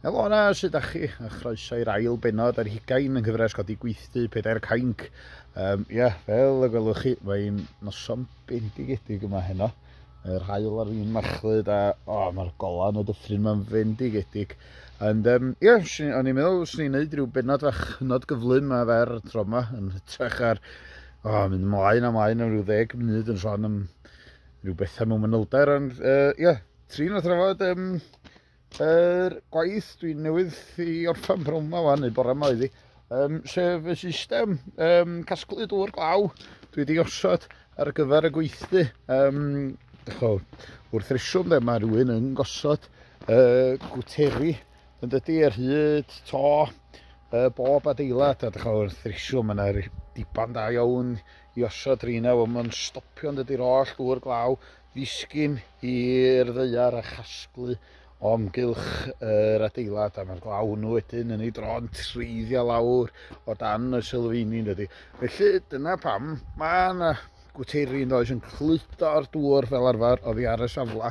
Helo yna, sydd â chi? A chroeso i'r ail benod ar hugain yng nghyfres godi gweithdy pedair cainc. Um, ia, yeah, fel y gwelwch chi, mae'n noson bendigedig yma heno. Yr hael ar un machlyd a oh, mae'r golan y dyffryn mae'n fendigedig. Ond um, ie, yeah, o'n i'n meddwl, swn i'n neud rhyw benod fach hynod gyflym a fer tro yma, yn hytrach ar oh, mynd ymlaen a ymlaen am rhyw ddeg munud yn sôn am rhyw bethau mewn manylder, ond ie, uh, yeah, Trin o thrafod um, er gwaith dwi'n newydd i orffan prwn yma fan, neu bore yma iddi, um, sef y system um, casglu dŵr glaw dwi wedi osod ar gyfer y gweithdy. Um, Echo, wrth reswm dde, mae rhywun yn gosod uh, gwteri yn dydy ar hyd to uh, bob adeilad a dychol wrth reswm yna diban da iawn i osod rina fo mae'n stopio yn dydy'r oll dŵr glaw Ddisgyn i'r ddaear a chasglu o amgylch yr adeilad a mae'r glawn wedyn yn ei dro'n treiddiau lawr o dan y sylfeini yn dydy. Felly dyna pam mae yna gwteiri yn does yn cludo'r dŵr fel arfer oddi ar y safle.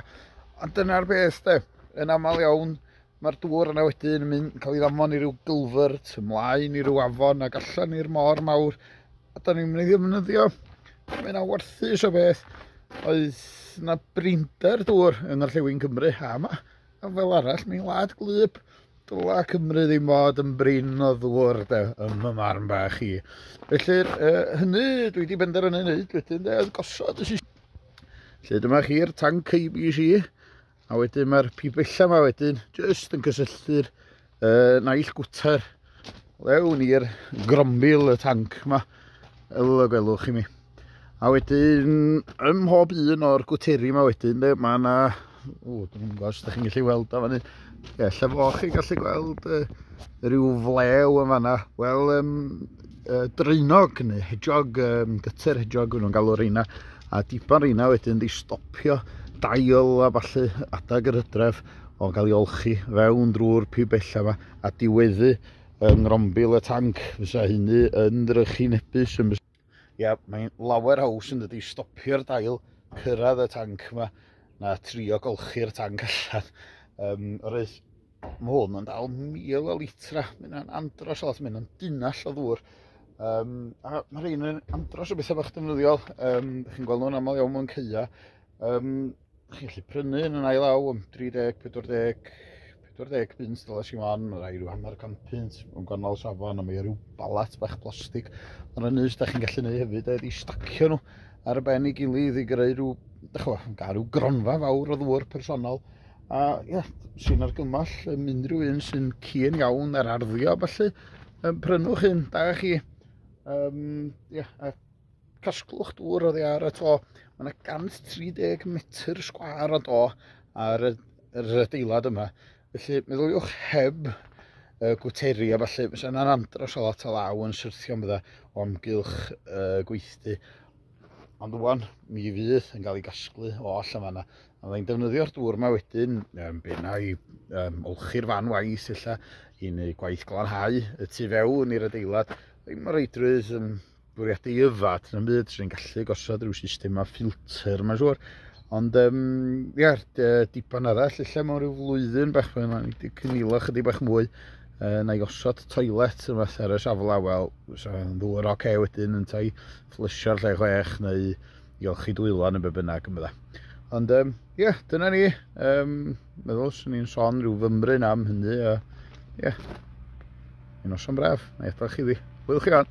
Ond dyna'r beth de, yn aml iawn Mae'r dŵr yna wedyn yn mynd, yn cael ei ddamfon i ryw gylfyrt, ymlaen i ryw afon ac allan i'r môr mawr. A da ni'n mynd i ddefnyddio, mae yna warthus o beth, oedd yna brinder dŵr yn yr Llewyn Cymru, a yma, a fel arall, mae'n wlad glyb. Dyla Cymru ddim fod yn brin o ddŵr, de, ym y marn bach i. Felly, uh, hynny dwi wedi benderfynu wneud wedyn, de, oedd gosod y system. Felly dyma chi'r tanc IBC, A wedyn mae'r pibella yma wedyn jyst yn cysylltu'r uh, naill gwter lewn i'r grombil y tanc yma fel y gwelwch i mi. A wedyn ym mhob un o'r gwteri yma wedyn de, mae yna... O, dwi'n gwybod os ydych chi'n gallu weld o fanny. Ie, lle fo chi gallu gweld uh, rhyw flew yn fanna. Wel, um, uh, draenog neu hedgehog, um, gyter hedgehog yn nhw'n galw reina, a dipan reina wedyn wedi stopio dail a falle adag yr hydref o'n cael ei olchi fewn drwy'r pibella yma a diweddu yng ngrombil y tanc fysa hynny yn drychu nebus yn Ia, mae'n lawer haws yn dydi stopio'r dail, cyrraedd y tanc yma, na trio golchi'r tanc allan. Um, Roedd Mae hwn yn dal mil o litra, mae hwnna'n andros o lot, mae hwnna'n dunall o ddŵr. Um, a mae rhain yn andros o bethau bach defnyddiol, um, chi'n gweld nhw'n aml iawn mewn ceia. Um, chi'n gallu prynu yn yn ail aw am 30, 40, 40 pins dyles i fan, mae rhai rhyw hanner can pins yn gwahanol safon, a mae rhyw balat bach plastig. Ond yn nys, da chi'n gallu gwneud hefyd, a wedi stacio nhw ar y ben i gilydd i greu rhyw, da chi'n gael rhyw gronfa fawr o ddŵr personol. A ia, sy'n argymell yn unrhyw un sy'n cyn iawn ar arddio, felly um, prynwch un, da chi. Um, ia, a casglwch dŵr oddi ar y to. Mae yna 130 metr sgwar o do ar y, yr adeilad yma. Felly, meddyliwch heb uh, gwteri a falle, fysa yna'n andros o lot o law yn syrthio am fydda o amgylch uh, gweithdy. Ond wwan, mi fydd yn cael ei gasglu oll yn fanna. A fydda i'n defnyddio'r dŵr yma wedyn, um, benna i um, olchi'r fan waith illa i wneud gwaith glanhau y tu fewn i'r adeilad. Ddim y reidrwydd yn bwriadu i yfad yn byd, sy'n ni'n gallu gosod rhyw system a ffilter mae'n siŵr. Ond, um, ia, diban arall, illa mewn rhyw flwyddyn bach, mae'n ni wedi cynilo chydig bach mwy uh, na i osod toilet yn fath ar y safle, wel, so, ddwy'r oce okay, wedyn yn tai Plysio'r lle chwech neu i olchi dwylo neu be bynnag yn bydda. Ond um, yeah, dyna ni. Um, meddwl swn i'n son rhyw fymryn am hynny. A, yeah. Un noson braf. Na i chi ddi. Hwyl chi on.